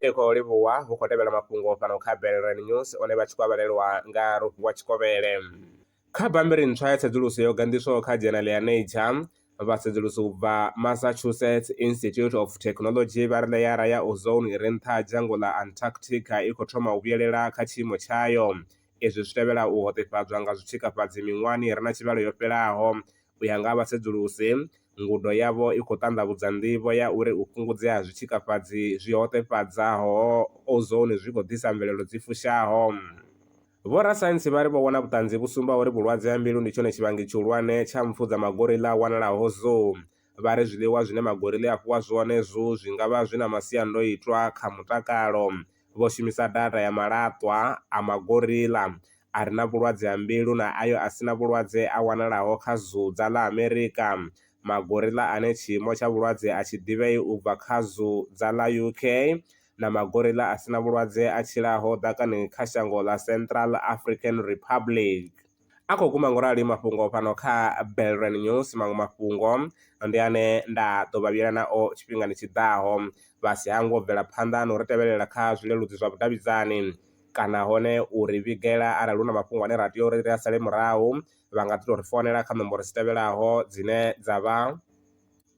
ri khou livhuwa hu khou tevhela mafhungo fhano kha belren news one vha tshi khou avhalelwa nga rofhiwa tshikovhele kha bambiri ntswa ya tsedzuluso yo ganḓiswaho kha dzhenali ya nature vhasedzulusi u bva massachusetts institute of technology vha ri ḽeara ya ozone i re nṱha ha dzhango ḽa antarctica i khou thoma u vhuyelela kha tshiimo tshayo Izwi zwi tevhela u hoṱefhadzwa nga zwitshikafhadzi miṅwahani i re na tshivhalo yo fhelaho. U ya nga ha vhasedzulusi, ngudo yavho i khou ṱanḓavhudza nḓivho ya uri u fhungudzea ha zwitshikafhadzi zwi hoṱefhadzaho ozone zwi khou ḓisa mvelelo dzi fushaho. Vhorasaintsi vha ri vho wana vhuṱanzi vhu sumbaho uri vhulwadze ha mbilu ndi tshone tshivhangi tshihulwane tsha mpfu dza magoriḽa a wanalaho Zoo. Vha ri zwiḽiwa zwine magoriḽa a fhiwa zwone Zoo zwi nga vha zwi na masiandoitwa kha mutakalo. vho shumisa data ya malaṱwa a magoriḽa a re na vhulwadze ha mbilu na ayo a si na vhulwadze a wanalaho kha Zuu dza ḽa Amerika, magoriḽa ane tshiimo tsha vhulwadze a tshi ḓivhei u bva kha Zuu dza ḽa UK, na magoriḽa a si na vhulwadze a tshilaho ḓakani kha shango ḽa Central African Republic. A khou guma ngorali mafhungo fhano kha Belrand News. Maṅwe mafhungo ndi ane nda ḓo vha vhuyela nao tshifhingani tshi ḓaho vha si hangwe u bvela phanḓa na u ri tevhelela kha zwileludzi zwa vhudavhidzani kana hone u ri vhigela arali hu na mafhungo ane ra tea uri ri a sale murahu vha nga ḓi tou ri founela kha nomboro dzi tevhelaho dzine dza vha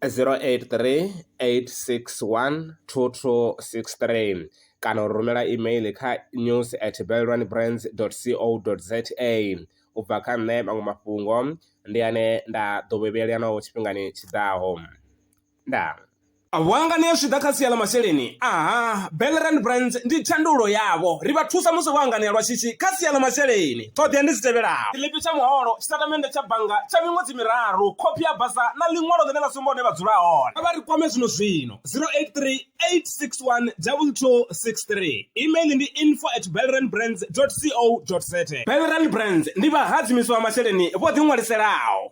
083 861 2263 kana u rumela email kha news at belwanbrands co za u bva kha nṋe maṅwe mafhungo ndi ane nda ḓo vhevhela naho tshifhingani tshi ḓaho ndaa Vhuangani zwi ḓa kha sia ḽa masheleni aha Belrand Brands ndi thandululo yavho ri vha thusa musi vho anganea lwa shishi kha sia ḽa masheleni. Ṱhoḓea ndi dzi tevhelaho. Tshiḽipi tsha muholo, tshitatamennde tsha bannga tsha miṅwedzi miraru, khophi ya basa na ḽiṅwalo ḽine ḽa sumba hune vha dzula hone. Kha vha ri kwame zwino-zwino, 0838612263. Email ndi info at belrandbrands.co.za. Belrand Brands ndi vhahadzimisi vha masheleni vho ḓiṅwaliselaho.